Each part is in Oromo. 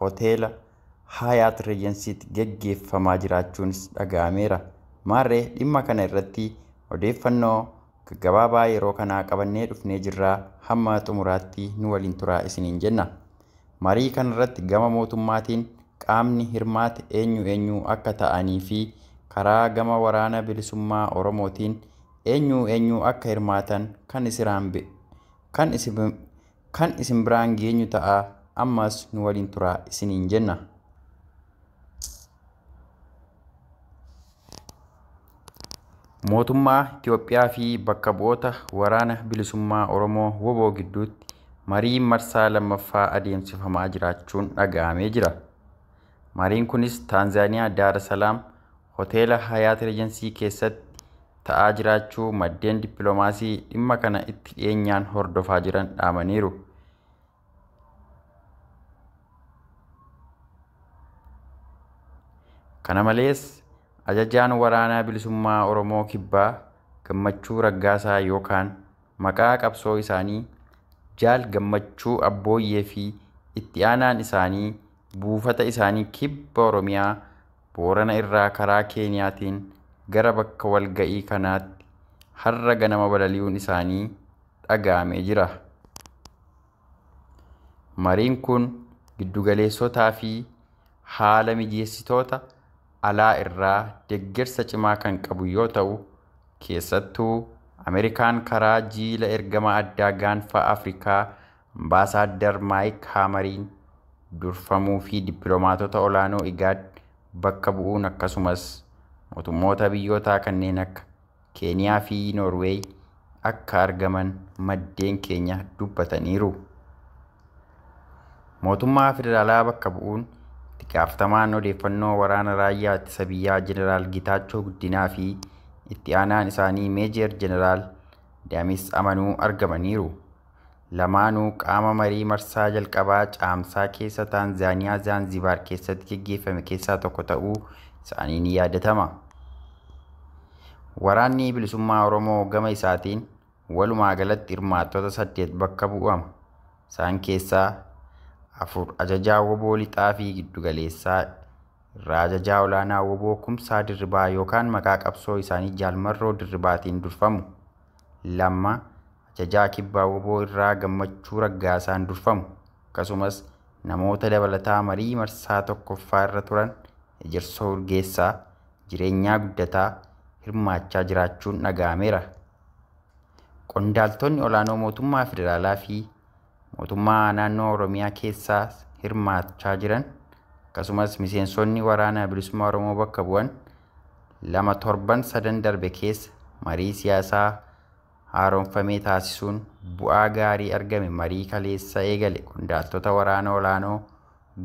hoteela Haayaat Reejansiitti gaggeeffamaa jiraachuunis dhaga'ameera. Maarree dhimma kana irratti odeeffannoo gaggabaabaa yeroo kanaa qabannee dhufnee jirra hamma xumuraatti nu waliin turaa isiniin jenna. Marii kanarratti gama mootummaatiin qaamni hirmaate eenyu eenyu akka ta'anii fi karaa gama Waraana Bilisummaa Oromootiin eenyu eenyu akka hirmaatan kan isiraan kan Kan isin biraan geenyu ta'a, ammas nu waliin turaa isiniin jenna. Mootummaa Itoophiyaa fi bakka bu'oota Waraana Bilisummaa Oromoo wbo gidduutti mariin marsaa lammaffaa adeemsifamaa jiraachuun dhaga'amee jira. Mariin kunis Taanzaaniyaa Daar Salaam hoteela Hayaat Reejansii keessatti ta'aa jiraachuu maddeen dippilomaasii dhimma kana itti dhiyeenyaan hordofaa jiran dhaamaniiru. Kana malees ajajaan waraanaa bilisummaa Oromoo Kibbaa Gammachuu Raggaasaa yookaan maqaa qabsoo isaanii Jaal Gammachuu Abbooyyee fi itti aanaan isaanii buufata isaanii Kibba Oromiyaa Boorana irraa karaa Keeniyaatiin gara bakka walga'ii kanaatti har'a ganama balali'uun isaanii dhaga'amee jira. Mariin kun giddugaleessotaa fi haala mijeessitoota alaa irraa deggersa cimaa kan qabu yoo ta'u, keessattuu Ameerikaan karaa jiila ergama addaa gaanfa Afrikaa Ambaasaaddar Maayik Haamariin durfamuu fi dippilomaatota olaanoo IGAD bakka bu'uun akkasumas mootummoota biyyootaa kanneen akka Keeniyaa fi Noorweey akka argaman maddeen keenya dubbataniiru. Mootummaa federaalaa bakka bu'uun itti gaafatamaan odeeffannoo waraana raayyaa ittisa biyyaa Jeneraal Getaachoo Guddinaa fi itti aanaan isaanii Meejeer Jeneraal Damis Amanuu argamaniiru. Lamaanuu qaama marii marsaa jalqabaa Caamsaa keessa Taanzaaniyaa Zaanzibaar keessatti geggeeffame keessaa tokko ta'uu isaanii ni yaadatama. Waraanni Bilisummaa Oromoo gama isaatiin walumaa galatti hirmaattota saddeet bakka bu'ama. Isaan keessaa afur ajajaa woboo lixaa fi giddugaleessaa irraa ajajaa olaanaa woboo Kumsaa Dirribaa yookaan maqaa qabsoo isaanii Jaal Marroo Dirribaatiin durfamu. Lamma Ajajaa Kibbaa wbo irraa Gammachuu Raggaasaan durfamu akkasumas namoota dabalataa marii marsaa 1ffaa irra turan Ejersoo Urgeessaa, Jireenyaa Guddataa hirmaachaa jiraachuun dhaga'ameera. Qondaaltoonni olaanoo mootummaa federaalaa fi mootummaa naannoo Oromiyaa keessaa hirmaachaa jiran akkasumas miseensonni waraana bilisummaa Oromoo bakka bu'an lama torban sadan darbe keessa marii siyaasaa haaromfamee taasisuun bu'aa gaarii argame marii kaleessa eegale qondaaltota waraana olaanoo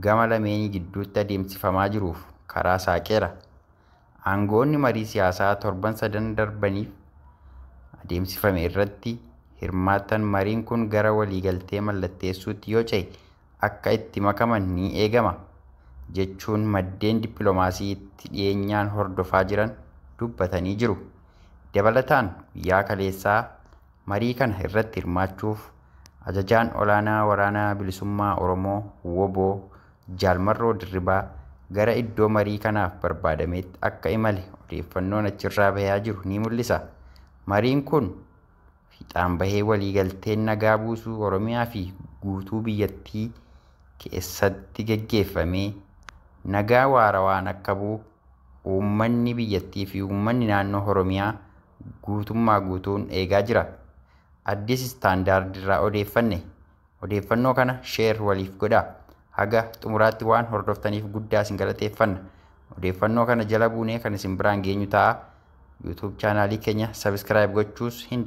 gama lameenii gidduutti adeemsifamaa jiruuf karaa saaqeera. Aanga'oonni marii siyaasaa torban sadan darbaniif adeemsifame irratti hirmaatan mariin kun gara waliigaltee mallatteessuutti yoo cehe akka itti makaman ni eegama, jechuun maddeen dippilomaasii itti dhiyeenyaan hordofaa jiran dubbatanii jiru. Dabalataan guyyaa kaleessaa marii kana irratti hirmaachuuf Ajajaan Olaanaa Waraana Bilisummaa Oromoo, wbo, Jaal Marroo Dirribaa gara iddoo marii kanaaf barbaadameetti akka imale odeeffannoon achirraa bahaa jiru ni mul'isa. Mariin kun. fiixaan bahee waliigalteen nagaa buusuu Oromiyaa fi guutuu biyyattii keessatti geggeeffamee nagaa waarawaan akka bu'u uummanni biyyattii fi uummanni naannoo Oromiyaa guutummaa guutuun eegaa jira. Addis Standard irraa odeeffanne. Odeeffannoo kana share waliif godhaa. Haga xumuraatti waan hordoftaniif guddaa isin galateeffanna. Odeeffannoo kana jala buunee kan isin biraan geenyu ta'a. YouTube chaanaalii keenya subscribe gochuus hin